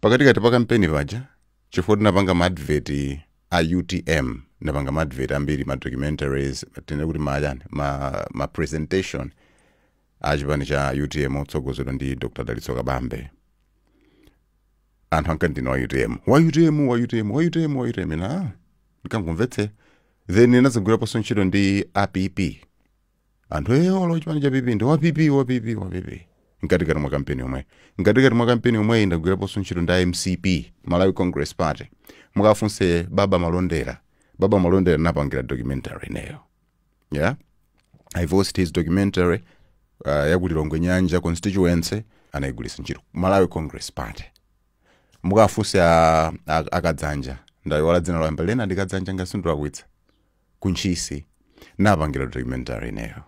Pakatikati pa kampeni paja chifukwa tinapanga ma advert a utm, tinapanga ma advert ambiri, ma documentaries, tinene kuti ma chani, ma ma presentation a chipani cha utm otsogozedwa ndi Dr Dalitso Kabambe. Anthu ankati ndine wa utm, wa utm, wa utm, wa utm, wa utm, ine ah, ndikangomvetsera. Then ndinadzagwiraponso ntchito ndi a PP. anthu ee olo chipani cha pp ndi wa pp wa pp wa pp mkatikati mwa kampeni yomweyi mkatikati mwa kampeni yomweyi ndagwiraponso ntchito ndi a mcp malawi congress party mukafunse baba malondera baba malondera ndinapangira documentary ineyo yeah i voiced his documentary uh, yakuti lilongwe nyanja constituency anayigwiritsa ntchito malawi congress party mukafunse a- a- a kadzanja ndayiwala dzina loyamba koma ndi kadzanja ngati sindikulakwitsa ku ntchisi ndinapangira documentary ineyo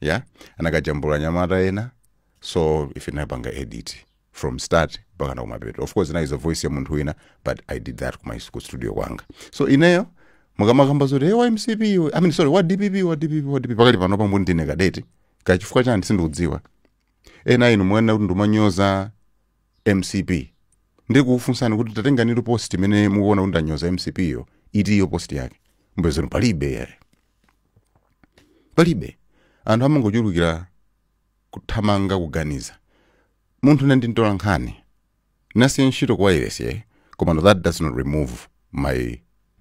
yeah anakajambula anyamata ena so ife tinapanga edit from start mpaka na kumapeto of course inali ndi voice ya munthu wina but i did that kuma ku studio kwanga so ineyo mukamakamba zoti hey, wa mcp iwe i mean sorry wa dpp wa dpp wa dpp pakali pano pambuyo ndine kadeti kachifukwa chani sindikudziwa ena inu mumanena kuti ndimanyoza mcp ndiye kukufunsani kuti tatenganitu post imene mukuona kuti ndanyoza mcp yo itiyo post yake mupeza palibe yeah palibe anthu amangochulukira kuthamanga kuganiza munthu ine ndi mtolankhani ndinasiya ntchito kwa iresiye koma no that does not remove my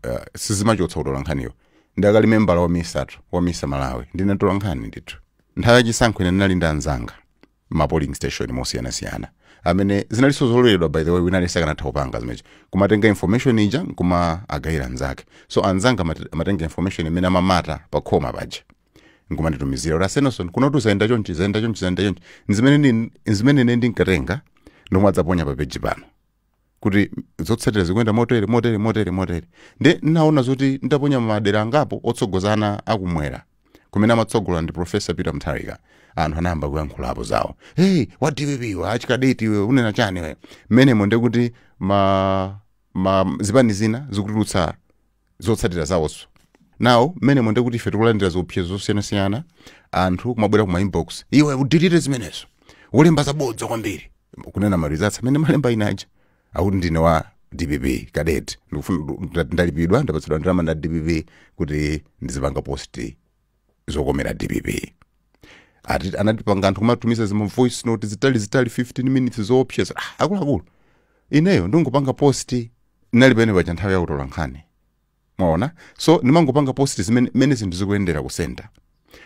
uh, sizimachotsa utolankhaniwo ndakali membala wa misatu wa misa malawi ndinatola nkhani ndithu nthawi yachisankho ine ndinali ndi anzanga ma polling station mosiyanasiyana amene zinalinso zololedwa by the way wina aliyense akanatha kupanga zimenezo kumatenga information ija nkumawagayira anzake so anzanga amate- amatenga information imene amamata pa khoma paja nkumanditumizira kuti asenoson kunotu zayenda chonchi zayenda chonchi zayenda chonchi ndi zimene ndi- ndi zimene ine ndinkatenga nkumadzaponya pa peji pano kuti zotsatira zikuyenda motere motere motere motere nde ndinaona zoti nditaponya madera angapo otsogozana akumwera kumene amatsogola ndi profesa peter mutharika anthu anayamba kuyankhulapo zawo hey wa dpp iwe achikadeti iwe unena chani iwe mmenemo ndekuti ma, ma zipani zina zikutulutsa zotsatira zawozo now mmenemo ndekuti ife tikulandira ziopsezo zosiyanasiyana anthu kumabwera kuma inbox iwe udilite zimenezo ukulemba zabodza kwambiri kunena marizatsi amene ndimalemba ine aja akuti ndine wa dpp cadet ndikufuna ndalipidwa ndapatsidwa ndalama ndi a dpp kuti ndizipanga post zokomera dpp ati anatipanga anthu kumatumiza zima voice note zitali zitali 15 minutes zoopseza ah, akuluakulu ineyo ndingopanga post nali pene paja nthawi yakutola nkhani mwaona so ndimangopanga post zimene mene zinthu zikuyendera ku center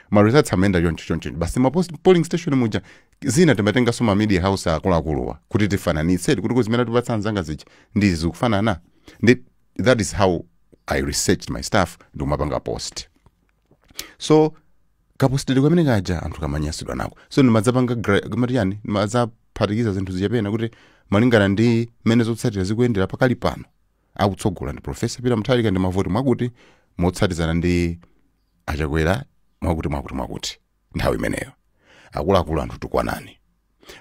ma results amayenda choncho choncho basi ma post polling station muja zina timatenganso ma media house akuluakuluwa kuti tifananitse kuti zimene atipatsa anzanga zija ndi zikufanana ndi that is how i researched my stuff ndikumapanga post so kapostedwe kamene kaja anthu kamanyasidwa nako so ndimadzapanga gra- kamati yani ndimadzaphatikiza zinthu zija pena kuti malingana ndi mmene zotsatira zikuyendera pakali pano akutsogola ndi profesa peter mutharika ndi mavoti mwakuti motsatizana ndi a Chakwera mwakuti mwakuti mwakuti nthawi imeneyo akuluakulu anthu kutukwana ni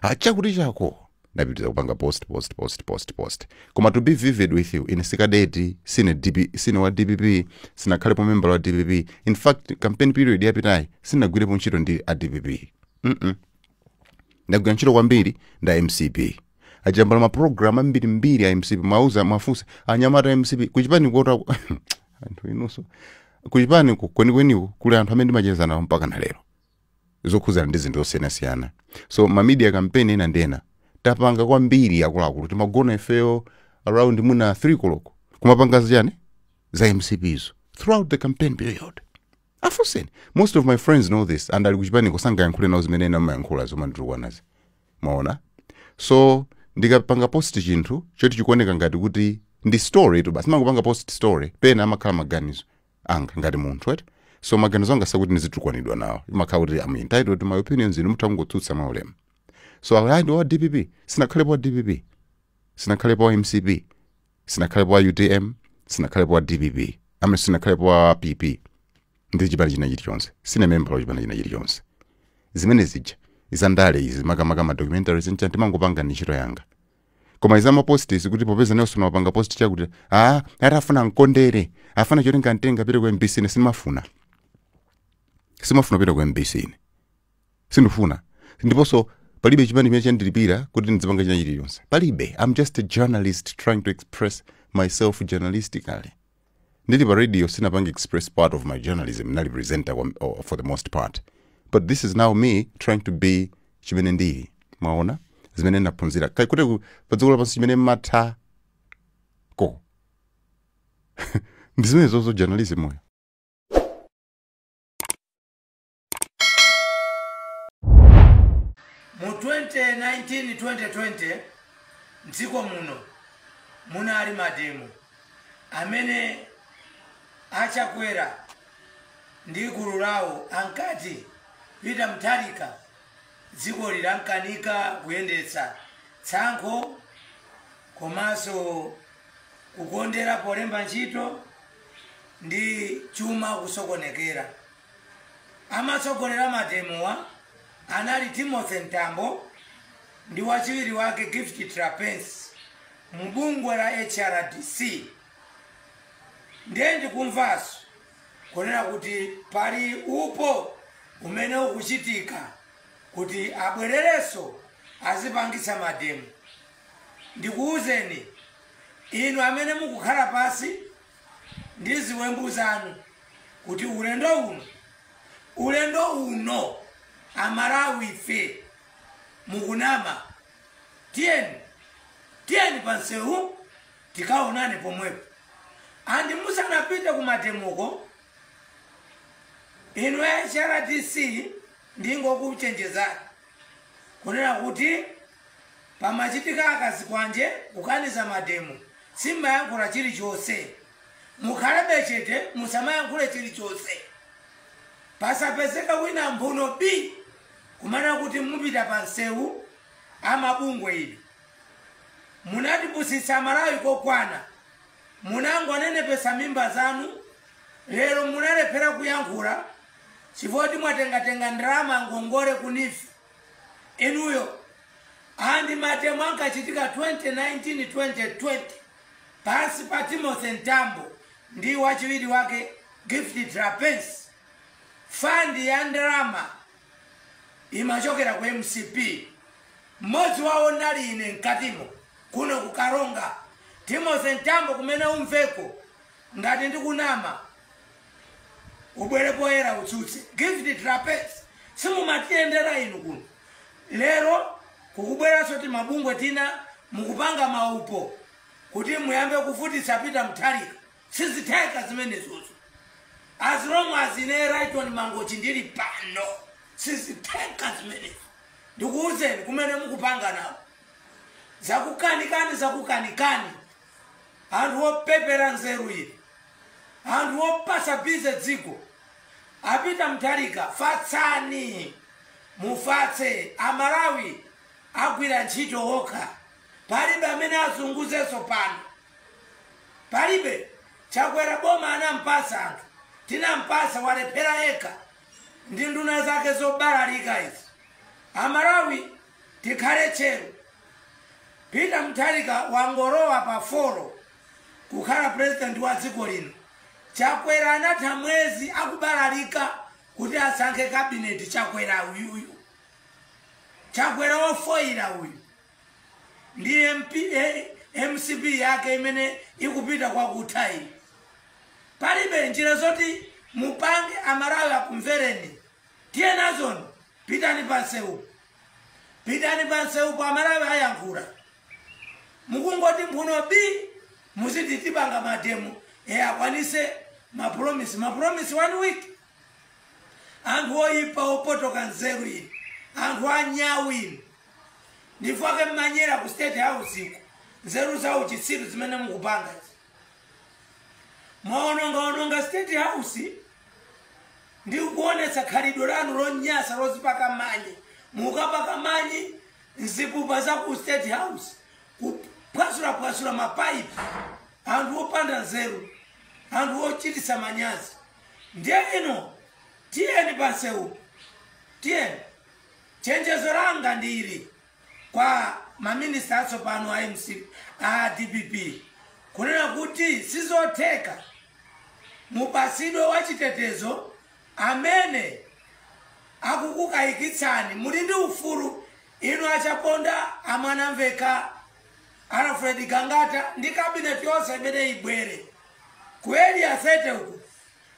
a chakuti chako ndapitiriza kupanga post post post post post koma to be vivid with you ine si kadeti sine, DP, sine wa dpp sinakhalepo membala wa dpp in fact campaign period yapitayi sinagwirepo ntchito ndi a dpp mm -mm. ndagwira ntchito kwambiri ndi a mcp ndajambula mapulogalamu ambirimbiri a mcp muwauza muwafunsa anyamata a mcp kuchipani ko ka anthu inunso kuchipani kwenikweniko kuli anthu amene ndimacheza nawo mpaka na lero zokhudzana ndi zinthu zosiyanasiyana so ma media campaign ena ndi ena tapanga kwambiri akuluakulu timagona ifeyo around mwina 3 koloko kumapanga zichani za mcpzo throughout the campaign period afunseni most of my friends know this and ali kuchipaniko sangayankhule nawo zimene ena amayankhula zomanditukwanazi mwaona so ndikapanga post chinthu choti chikuoneka ngati kuti ndi story tu basi ndimangopanga post story pena amakhala maganizo anga ngati munthu right so maganizo anga sakuti ndizitukwanidwa nawo imakhala kuti i'm entitled to my opinions inu mutha kungotsutsa mwa ulemu so awe ayi ndi wa dpp sinakhalepo wa dpp sinakhalepo wa mcp sinakhalepo wa utm sinakhalepo wa dpp amene sinakhalepo wa pp ndi chipani china chilichonse sine membala wa chipani china chilichonse zimene zija za ndale izi makamaka ma documentaries zija ndimangopanga ndi ntchito yanga koma izi za mapost izi kuti popeza nelson wapanga post chakuti ah ati afuna mkondere afuna choti akamutenge apite ku mbc ine simafuna simafuna kupita ku mbc ine sindifuna ndiponso palibe chipani chimene chandilipira kuti ndidzipanga china chilichonse palibe i'm just a journalist trying to express myself journalistically Ndili pa radio sinapange express part of my journalism ndinali presenter kwa oh, for the most part but this is now me trying to be chimene ndili mwaona zimene ndaphunzira Ka- kuti ku- pa dziko lapansi chimene mmathako ndi zimenezozo journalism yo Mu 2019 2020 mdziko muno munali mademo amene a Chakwera ndi gulu lawo ankati Peter Mutharika dziko lilamkanika kuyendetsa tsankho komanso kukondera polemba ntchito ndi chuma kusokonekera. Amatsogolera mademowa anali Timothy Mtambo ndi wachiwiri wake Gift Trapence mu bungwe la HRDC. Ndiye ndikumvanso kunena kuti pali upo umene ukuchitika kuti abwerereso azipangitsa mademo. Ndikuuzeni inu amene mukukhala pansi ndi ziwembu zanu kuti ulendo uno ulendo uno amalawife mukunama tiyeni tiyeni pamsewu tikaonane pomwepo andi musanapite kumademoko inu ya hrdc ndingokuchenjezani kunena kuti Pamachitika akazikwanje kukaniza mademo simmayankhula chilichonse. Mukhalebe chete musamayankhule chilichonse. Pasapezeke wina mphuno bi kumanena kuti mupita pa msewu a mabungwe inu. Munatipusitsa amalawi kokwana. Munangonenepetsa mimba zanu lero munalephera kuyankhula chifukwa choti mwatengatenga ndalama ngongole ku neef. inuyo andi mademo ankachitika 2019 2020 pansi pa timothy mtambo ndi wachiwiri wake gift trapence fandi ya ndalama imachokera ku mcp mmodzi wawo ndinali ine mkatimo kuno kukaronga timothy mtambo kumene umveko ngati ndikunama ubwere poyera utsutse gift trapence simumatiyendera inu kuno lero kukubweranso timabungwe tina mukupanga maupo kuti muyambe kuvutitsa peter mutharika sizitheka zimenezozo as long as ine raiton mangochi ndili pano sizitheka zimenezo ndikuwuzeni kumene mukupanga nawo zakukanikani zakukanikani anthu opepera nzeru inu anthu opatsa busy dziko a Peter Mutharika fatsani mufatse amalawi agwira ntchito okha palibe amene azunguzenso pano palibe chakwera boma anampatsa anthu tinampatsa walephera yekha ndi nduna zake zobalalika izi amalawi Tikhale tcheru. Peter Mutharika wangolowa pa four kukhala president wa dziko lino. Chakwera anatha mwezi akubalalika kuti asankhe cabinet Chakwera uyuyu. Chakwera wofoira uyu. Ndi MP, eh, MCP yake imene ikupita kwa kutha iyi. Palibe njira zoti mupange amalawi akumvereni. tiyenazoni pitani pansewupo pitani pansewupo amalawi ayankhula mukungoti mphuno bii muziti tipanga mademo e akwanise mapulomisi mapulomisi one week anthu oyipa opotoka nzeru inu anthu anyawu inu n'chifukwa chake mumanyera ku state house uko nzeru zauchitsiru zimene mukupanga izi. mwaonongaononga state house ndi kuonetsa khalidwe lanu lonyasa lozipaka manyi mukapaka manyi mzipupa za ku state house kuphwasulapwasula mapaipi anthu opanda nzeru anthu ochititsa manyazi ndiye inu tiyeni pansewu tiyeni chenjezo langa ndi ili kwa ma minister atsopano a mcp a dpp kunena kuti sizotheka mupatsidwe wachitetezo amene akukukayikitsani muli ndi ufulu inu achaponda amwanamveka alfred gangata ndi kabineti yonse imene ibwere ku area 30 uku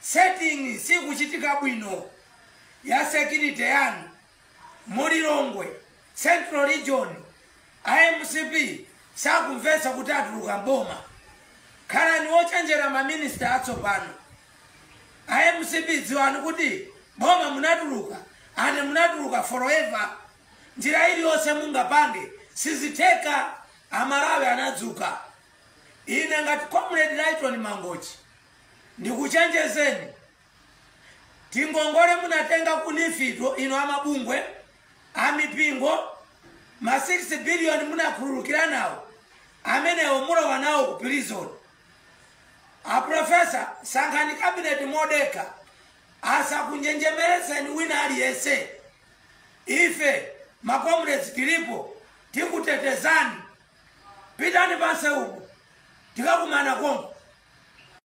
setting sikuchitika bwino ya security yanu Mu Lilongwe central region a mcp sakumvetsa kuti atuluka m'boma. Khalani ochenjera ma minister atsopano. A mcp dziwani kuti boma munatuluka and munatuluka forever. Njira iliyonse mungapange sizitheka. Amalawi anadzuka. Ine ngati comrade Lyton Mangochi ndikuchenjezeni. tingongole munatenga ku nifito inu amabungwe amipingo ma 6 billion munakhululukira nawo amenewo mulowa nawo ku prison aprofesa sankhani kabineti modekha asakunjenjemeretseni wina aliyense ife makomredi tilipo tikutetezani pitani pansi uko tikakumana konko